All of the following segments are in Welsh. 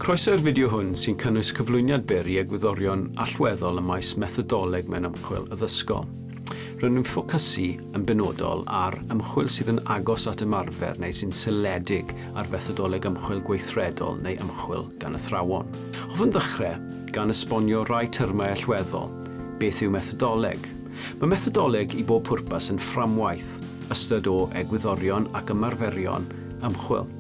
Croeso i'r fideo hwn sy'n cynnwys cyflwyniad byr i egwyddorion allweddol ym maes methodoleg mewn ymchwil addysgol. Rydyn ni'n ffocysu yn benodol ar ymchwil sydd yn agos at ymarfer neu sy'n seiliedig ar fethodoleg ymchwil gweithredol neu ymchwil gan athrawon. Hoffwn ddechrau gan esbonio rai termau allweddol, beth yw methodoleg? Mae methodoleg i bob pwrpas yn fframwaith, ystod o egwyddorion ac ymarferion ymchwil.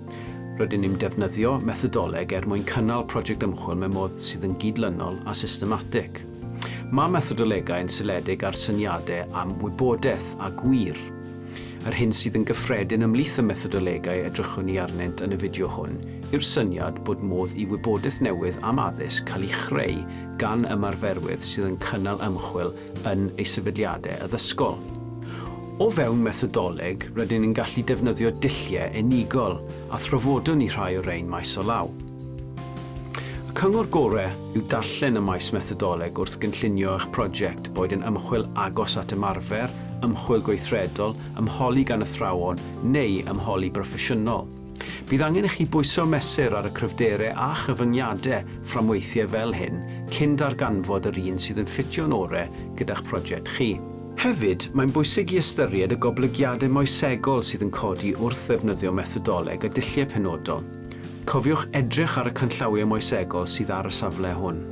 Rydyn ni'n defnyddio methodoleg er mwyn cynnal project ymchwil mewn modd sydd yn gydlynol a systematig. Mae methodolegau yn seiliedig ar syniadau am wybodaeth a gwir. Yr hyn sydd yn gyffredin ymhlith y methodolegau edrychwn ni arnynt yn y fideo hwn yw'r syniad bod modd i wybodaeth newydd am addysg cael ei chreu gan ymarferwydd sydd yn cynnal ymchwil yn ei sefydliadau addysgol. O fewn methodoleg, rydyn ni'n gallu defnyddio dulliau unigol, a thrafodwn ni rhai o rein maes o law. Y cyngor gorau yw darllen y maes methodoleg wrth gynllunio eich prosiect, boed yn ymchwil agos at ymarfer, ymchwil gweithredol, ymholi gan athrawon, neu ymholi broffesiynol. Bydd angen i chi bwyso mesur ar y cryfderau a chyfyngiadau fframweithiau fel hyn cyn darganfod yr un sydd yn ffitio'n orau gyda'ch prosiect chi. Hefyd, mae'n bwysig i ystyried y goblygiadau moesegol sydd yn codi wrth ddefnyddio methodoleg a dulliau penodol. Cofiwch edrych ar y canllawiau moesegol sydd ar y safle hwn.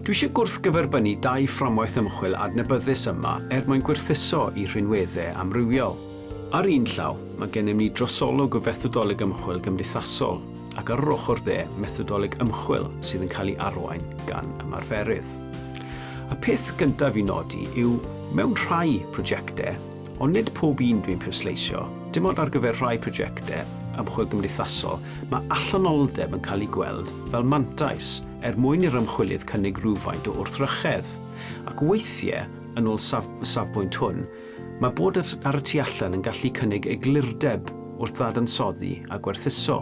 Dwi eisiau gwrthgyferbynnu dau fframwaith ymchwil adnabyddus yma er mwyn gwerthuso i rhinweddau amrywiol. Ar un llaw, mae gennym ni drosolwg o fethodoleg ymchwil gymdeithasol, ac ar yr ochr dde, methodoleg ymchwil sydd yn cael ei arwain gan ymarferydd. Y peth gyntaf i nodi yw, mewn rhai prosiectau, ond nid pob un dwi'n pwysleisio, dim ond ar gyfer rhai prosiectau ymchwil gymdeithasol, mae allanolldeb yn cael ei gweld fel mantais er mwyn i'r ymchwilydd cynnig rhywfaint o wrthrychedd, ac weithiau, yn ôl safbwynt hwn, Mae bod ar y tu allan yn gallu cynnig eglurdeb wrth ddadansoddi a gwerthuso.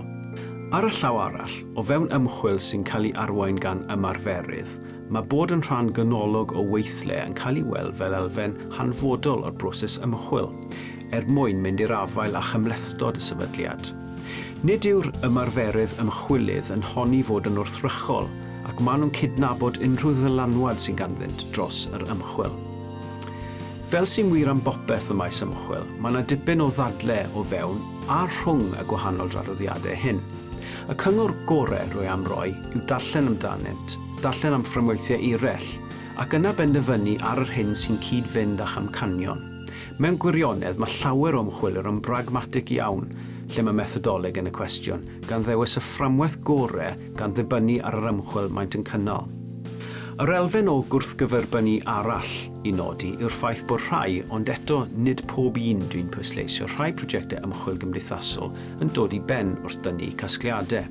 Ar y llaw arall, o fewn ymchwil sy'n cael ei arwain gan ymarferydd, mae bod yn rhan ganolog o weithle yn cael ei weld fel elfen hanfodol o'r broses ymchwil, er mwyn mynd i'r afael â chymhlethdod y sefydliad. Nid yw'r ymarferydd ymchwilydd yn honni fod yn wrthrychol ac maen nhw'n cydnabod unrhyw ddylanwad sydd ganddynt dros yr ymchwil. Fel sy'n wir am bopeth ym maes ymchwil, mae yna dipyn o ddadle o fewn a rhwng y gwahanol draddodiadau hyn. Y cyngor gorau rwy am roi yw darllen amdanynt, darllen am fframweithiau eraill, ac yna benderfynu ar yr hyn sy'n cyd-fynd â'ch amcanion. Mewn gwirionedd, mae llawer o ymchwilwyr yn bragmatig iawn lle mae methodoleg yn y cwestiwn, gan ddewis y fframwaith gorau gan ddibynnu ar yr ymchwil maent yn cynnal. Yr elfen o gwrthgyferbynnu arall i nodi yw'r ffaith bod rhai, ond eto nid pob un dwi'n pwysleisio, rhai prosiectau ymchwil gymdeithasol yn dod i ben wrth dynnu casgliadau.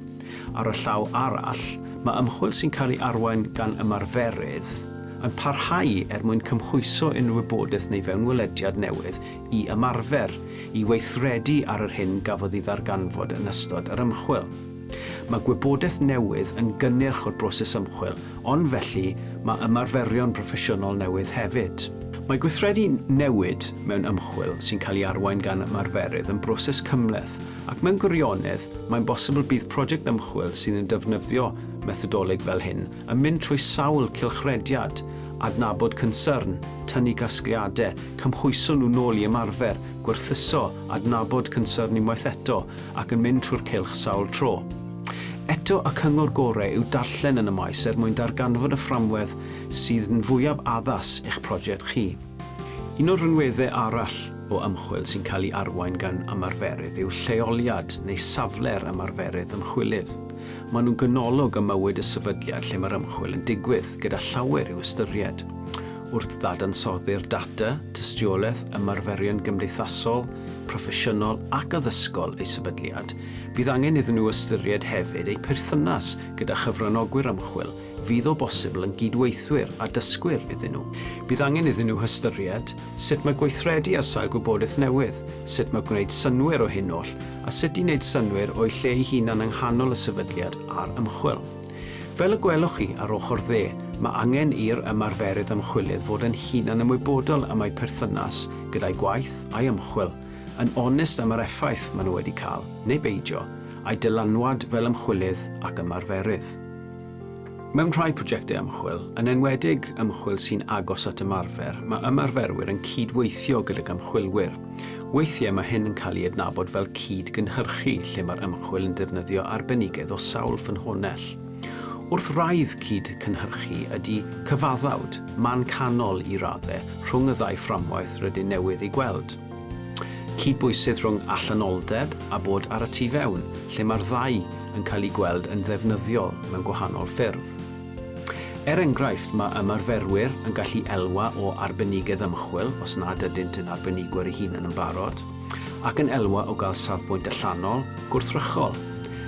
Ar y llaw arall, mae ymchwil sy'n cael ei arwain gan ymarferydd yn parhau er mwyn cymhwyso unrhyw wybodaeth neu fewnwelediad newydd i ymarfer, i weithredu ar yr hyn gafodd ei ddarganfod yn ystod yr ymchwil. Mae gwybodaeth newydd yn gynnyrch o'r broses ymchwil, ond felly mae ymarferion proffesiynol newydd hefyd. Mae gweithredu newid mewn ymchwil sy'n cael ei arwain gan ymarferydd yn broses cymhleth, ac mewn gwirionedd, mae'n bosibl bydd project ymchwil sydd yn defnyddio methodoleg fel hyn yn mynd trwy sawl cylchrediad, adnabod cynsyrn, tynnu casgliadau, cymhwyso nhw nôl i ymarfer, gwerthuso, adnabod cynsyrn unwaith eto, ac yn mynd trwy'r cylch sawl tro. Eto, y cyngor gorau yw darllen yn y maes er mwyn darganfod y fframwedd sydd yn fwyaf addas i'ch prosiect chi. Un o'r rhinweddau arall o ymchwil sy'n cael ei arwain gan ymarferydd yw lleoliad neu safle'r ymarferydd ymchwilydd. Maen nhw'n ganolog ym mywyd y sefydliad lle mae'r ymchwil yn digwydd, gyda llawer i'w ystyried wrth ddadansoddi'r data, tystiolaeth, ymarferion gymdeithasol, proffesiynol ac addysgol eu sefydliad, bydd angen iddyn nhw ystyried hefyd eu perthynas gyda chyfranogwyr ymchwil fydd o bosibl yn gyd-weithwyr a dysgwyr iddyn nhw. Bydd angen iddyn nhw hystyried sut mae gweithredu ar sail gwybodaeth newydd, sut mae gwneud synnwyr o hyn oll a sut i wneud synnwyr o'u lle ei hunan yng nghanol y sefydliad a'r ymchwil. Fel y gwelwch chi ar ochr dde, mae angen i'r ymarferydd ymchwilydd fod yn hunan ymwybodol am eu perthynas gyda'u gwaith a'i ymchwil, yn onest am yr effaith maen nhw wedi cael, neu beidio, a'u dylanwad fel ymchwilydd ac ymarferydd. Mewn rhai prosiectau ymchwil, yn enwedig ymchwil sy'n agos at ymarfer, mae ymarferwyr yn cyd-weithio gydag ymchwilwyr. Weithiau mae hyn yn cael ei adnabod fel cyd-gynhyrchu, lle mae'r ymchwil yn defnyddio arbenigedd o sawl ffynhonnell. Wrth wraidd cyd-cynhyrchu ydy cyfaddawd, man canol i raddau, rhwng y ddau fframwaith rydyn newydd ei gweld. Cydbwysedd rhwng allanol-deb a bod ar y tu fewn, lle mae'r ddau yn cael eu gweld yn ddefnyddiol mewn gwahanol ffyrdd. Er enghraifft, mae ymarferwyr yn gallu elwa o arbenigedd ymchwil os nad ydynt yn arbenigwyr eu hunain yn barod, ac yn elwa o gael safbwynt allanol, gwrthrychol.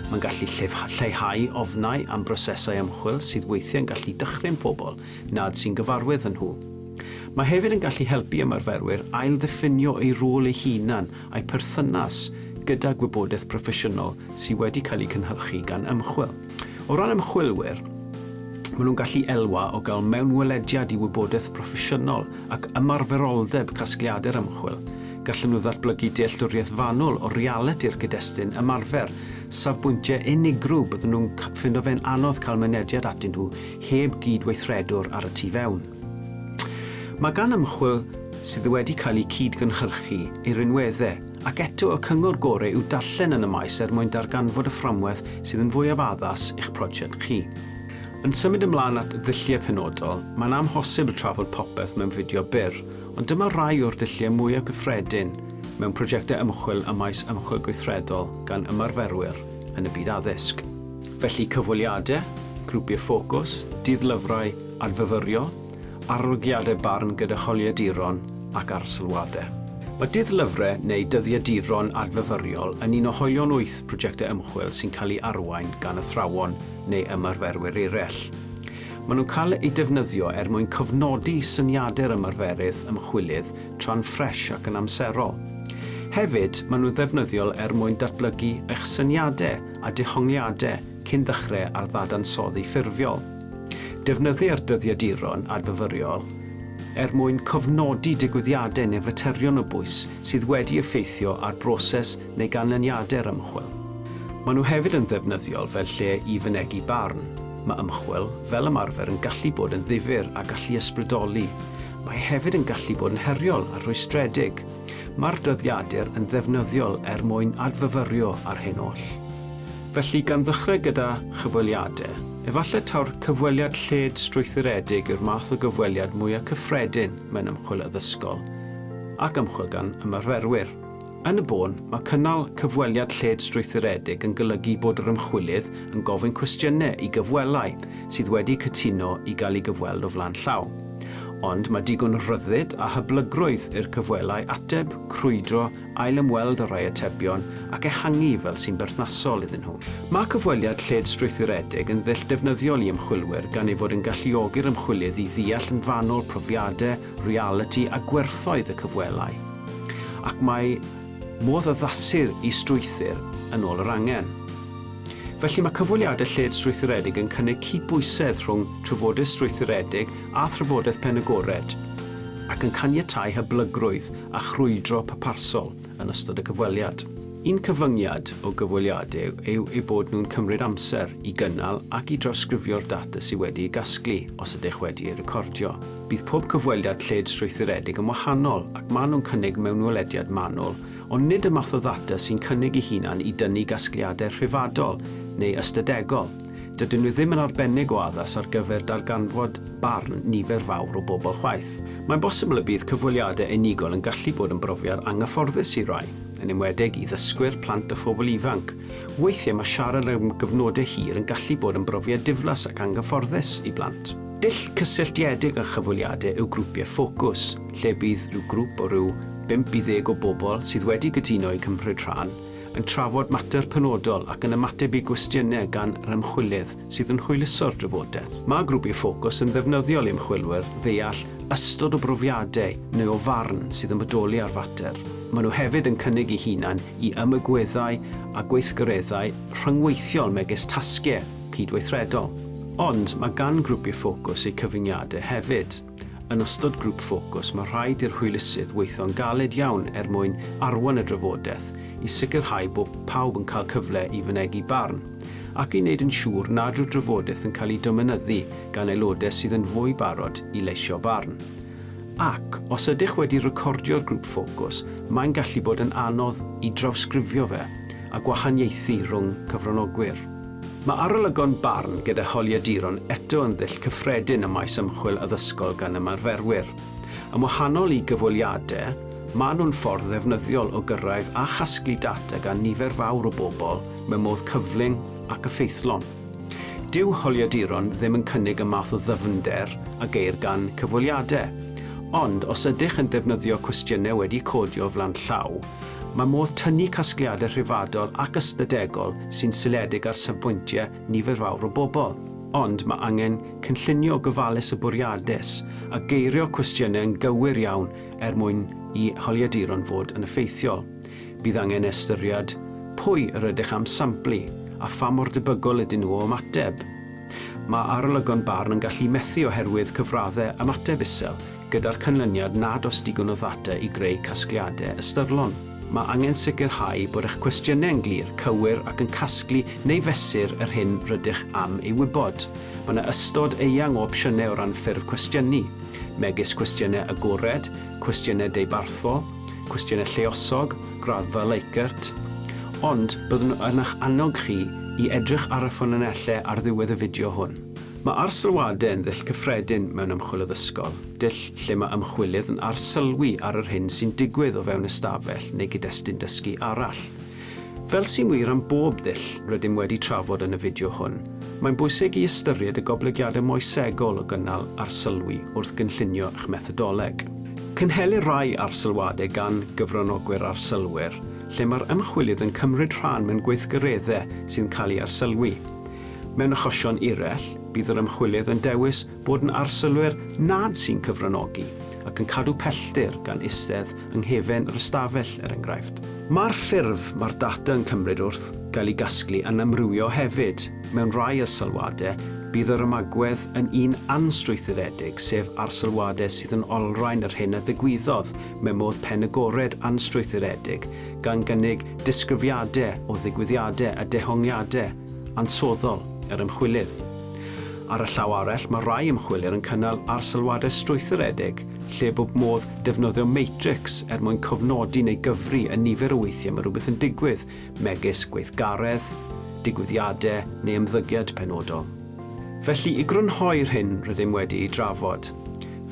Mae'n gallu lleihau ofnau am brosesau ymchwil sydd weithiau'n gallu dychryn pobl nad sy'n gyfarwydd â nhw. Mae hefyd yn gallu helpu ymarferwyr ailddiffinio eu rôl eu hunain a'i pherthynas gyda gwybodaeth broffesiynol sydd wedi cael ei cynhyrchu gan ymchwil. O ran ymchwilwyr, maen nhw'n gallu elwa o gael mewnwelediad i wybodaeth broffesiynol ac ymarferoldeb casgliadau'r ymchwil. Gallen nhw ddatblygu dealltwriaeth fanwl o realiti'r cyd-destun ymarfer, safbwyntiau unigryw byddwn nhw'n ffindo fe'n anodd cael mynediad atyn nhw heb gyd-weithredwr ar y tu fewn. Mae gan ymchwil sydd wedi cael ei cyd-gynhyrchu ei rinweddau, ac eto y cyngor gorau yw darllen yn y maes er mwyn darganfod y fframwaith sydd yn fwyaf addas i'ch prosiect chi. Yn symud ymlaen at ddulliau penodol, mae'n amhosibl trafod popeth mewn fideo byr, ond dyma rai o'r dulliau mwyaf cyffredin mewn prosiectau ymchwil ym maes ymchwil gweithredol gan ymarferwyr yn y byd addysg. Felly, cyfweliadau, grwpiau ffocws, dydd-lyfrau, Adfyfyrio, arolygiadau barn gyda holiaduron ac arsylwadau. Mae dull-lyfrau neu dyddiaduron adfyfyriol yn un o hoelion wyth prosiectau ymchwil sy'n cael ei arwain gan athrawon neu ymarferwyr eraill. Maen nhw'n cael eu defnyddio er mwyn cofnodi syniadau'r ymarferydd ymchwilydd tra'n ffres ac yn amserol. Hefyd, maen nhw'n ddefnyddiol er mwyn datblygu eich syniadau a dehongliadau cyn ddechrau ar ddadansoddi ffurfiol. Defnyddir dyddiaduron adfyfyriol er mwyn cofnodi digwyddiadau neu faterion o bwys sydd wedi effeithio ar broses neu ganlyniadau'r ymchwil. Maen nhw hefyd yn ddefnyddiol fel lle i fynegi barn. Mae ymchwil, fel ymarfer, yn gallu bod yn ddifyr a gallu ysbrydoli. Mae hefyd yn gallu bod yn heriol a rhwystredig. Mae'r dyddiadur yn ddefnyddiol er mwyn adfyfyrio ar hyn oll. Felly, gan ddechrau gyda chyfweliadau, efallai taw'r cyfweliad lled strwythuredig yw'r math o gyfweliad mwyaf cyffredin mewn ymchwil addysgol ac ymchwil gan ymarferwyr. Yn y bôn, mae cynnal cyfweliad lled strwythuredig yn golygu bod yr ymchwilydd yn gofyn cwestiynau i gyfwellau sydd wedi cytuno i gael eu gyfweld o flaen llaw. Ond mae digon o ryddid a hyblygrwydd i'r cyfwellau ateb, crwydro ailymweld â rhai atebion ac ehangu fel sy'n berthnasol iddyn nhw. Mae cyfweliad lled-strwythuredig yn ddull defnyddiol i ymchwilwyr gan ei fod yn galluogi'r ymchwilydd i ddeall yn fanwl profiadau, realiti a gwerthoedd y cyfwelai. Ac mae modd addasu'r is-strwythur yn ôl yr angen. Felly mae cyfweliadau lled-strwythuredig yn cynnig cydbwysedd rhwng trafodaeth strwythuredig a thrafodaeth penagored ac yn caniatáu hyblygrwydd a chrwydro pyparsol yn ystod y cyfweliad. Un cyfyngiad o gyfweliadau yw eu bod nhw'n cymryd amser i gynnal ac i drawsgrifio'r data sydd wedi ei gasglu, os ydych wedi ei recordio. Bydd pob cyfweliad lled strwythuredig yn wahanol ac maen nhw'n cynnig mewnwelediad manwl, ond nid y math o ddata sy'n cynnig ei hunan i dynnu gasgliadau rhyfadol neu ystadegol. Dydyn nhw ddim yn arbennig o addas ar gyfer darganfod barn nifer fawr o bobl chwaith. Mae'n bosibl y bydd cyfweliadau unigol yn gallu bod yn brofiad anghyfforddus i rai, yn enwedig i ddysgwyr, plant a phobl ifanc. Weithiau mae siarad am gyfnodau hir yn gallu bod yn brofiad diflas ac anghyfforddus i blant. Dull cysylltiedig â chyfweliadau yw grwpiau ffocws, lle bydd rhyw grŵp o ryw bump i ddeg o bobl sydd wedi cytuno i cymryd rhan yn trafod mater penodol ac yn ymateb i gwestiynau gan yr ymchwilydd sydd yn hwyluso'r drafodaeth. Mae Grwpiau Ffocws yn ddefnyddiol i ymchwilwyr ddeall ystod o brofiadau neu o farn sydd yn bodoli ar fater. Maen nhw hefyd yn cynnig eu hunain i ymagweddau a gweithgareddau rhyngweithiol megis tasgiau cydweithredol. Ond mae gan Grwpiau Ffocws eu cyfyngiadau hefyd. Yn ystod grŵp ffocws, mae rhaid i'r hwylusydd weithio'n galed iawn er mwyn arwain y drafodaeth, i sicrhau bod pawb yn cael cyfle i fynegi barn, ac i wneud yn siŵr nad yw'r drafodaeth yn cael ei dominyddu gan aelodau sydd yn fwy barod i leisio barn. Ac, os ydych wedi recordio'r grŵp ffocws, mae'n gallu bod yn anodd i drawsgrifio fe a gwahaniaethu rhwng cyfranogwyr. Mae arolygon barn gyda holiaduron eto yn ddull cyffredin ym maes ymchwil addysgol gan ymarferwyr. Yn wahanol i gyfweliadau, maen nhw'n ffordd ddefnyddiol o gyrraedd a chasglu data gan nifer fawr o bobl mewn modd cyflym ac effeithlon. Dyw holiaduron ddim yn cynnig y math o ddyfnder a geir gan cyfweliadau, ond os ydych yn defnyddio cwestiynau wedi codio flaen llaw, Mae modd tynnu casgliadau rhyfeddol ac ystadegol sy'n seiliedig ar safbwyntiau nifer fawr o bobl, ond mae angen cynllunio gofalus a bwriadus a geirio cwestiynau yn gywir iawn er mwyn i holiaduron fod yn effeithiol. Bydd angen ystyried pwy yr ydych am samplu a pha mor debygol ydyn nhw o ymateb. Mae arolygon barn yn gallu methu oherwydd cyfraddau ymateb isel, Gyda'r canlyniad nad oes digon o ddata i greu casgliadau ystyrlon, mae angen sicrhau bod eich cwestiynau yn glir, cywir ac yn casglu neu fesur yr hyn rydych am ei wybod. Mae yna ystod eang o opsiynau o ran ffurf cwestiynu, megis cwestiynau agored, cwestiynau deubarthol, cwestiynau lluosog, graddfa Likert, ond byddwn yn eich annog chi i edrych ar y ffynonellau ar ddiwedd y fideo hwn. Mae arsylwadau yn ddull cyffredin mewn ymchwil addysgol, dull lle mae ymchwilydd yn arsylwi ar yr hyn sy'n digwydd o fewn ystafell neu gyd-destun dysgu arall. Fel sy'n wir am bob dull rydym wedi trafod yn y fideo hwn, mae'n bwysig i ystyried y goblygiadau moesegol o gynnal arsylwi wrth gynllunio eich methodoleg. Cynhelir rhai arsylwadau gan gyfranogwyr arsylwyr, lle mae'r ymchwilydd yn cymryd rhan mewn gweithgareddau sy'n cael eu arsylwi. Mewn achosion eraill, bydd yr ymchwilydd yn dewis bod yn arsylwyr nad sy'n cyfranogi ac yn cadw pellter gan eistedd yng nghefn yr ystafell, er enghraifft. Mae'r ffurf mae'r data yn cymryd wrth gael ei gasglu yn amrywio hefyd. Mewn rhai arsylwadau, bydd yr ymagwedd yn un anstrwythuredig, sef arsylwadau sydd yn olrhain yr hyn a ddigwyddodd mewn modd pen agored anstrwythuredig, gan gynnig disgrifiadau o ddigwyddiadau a dehongliadau, ansoddol yr ymchwilydd. Ar y llaw arall, mae rhai ymchwilydd yn cynnal arsylwadau strwythuredig lle bod modd defnyddio matrix er mwyn cofnodi neu gyfri y nifer o weithiau mae rhywbeth yn digwydd, megis gweithgaredd, digwyddiadau neu ymddygiad penodol. Felly, i grynhoi'r hyn rydym wedi'i drafod,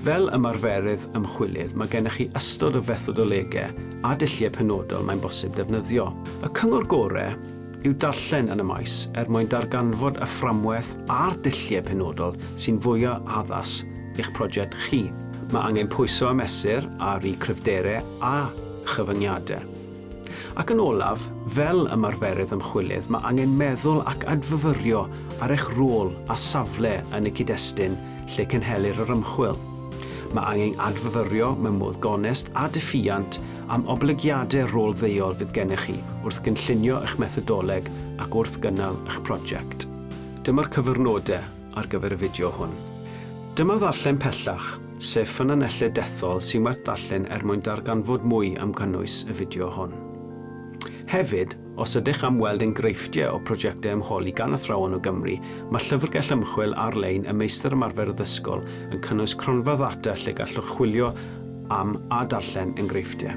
fel ymarferydd ymchwilydd, mae gennych chi ystod o fethodolegau a dulliau penodol mae'n bosib defnyddio. Y cyngor gorau yw darllen yn y maes er mwyn darganfod y fframwaith a'r dulliau penodol sy'n fwyaf addas i'ch prosiect chi. Mae angen pwyso a mesur ar i cryfderau a chyfyngiadau. Ac yn olaf, fel ymarferydd ymchwilydd mae angen meddwl ac adfyfyrio ar eich rôl a safle yn y cyd-destun lle cynhelir yr ymchwil. Mae angen adfyfyrio mewn modd gonest a diffuant am oblygiadau rôl ddeuol fydd gennych chi wrth gynllunio eich methodoleg ac wrth gynnal eich prosiect. Dyma'r cyfrnodau ar gyfer y fideo hwn. Dyma ddarllen pellach, sef ffynonellau dethol sy'n werth darllen er mwyn darganfod mwy am gynnwys y fideo hwn. Hefyd, Os ydych am weld enghreifftiau o brojectau ymholi gan athrawon o Gymru, mae llyfrgell ymchwil ar-lein y Meistr Ymarfer Addysgol yn cynnwys cronfa ddata lle gallwch chwilio am a darllen enghreifftiau.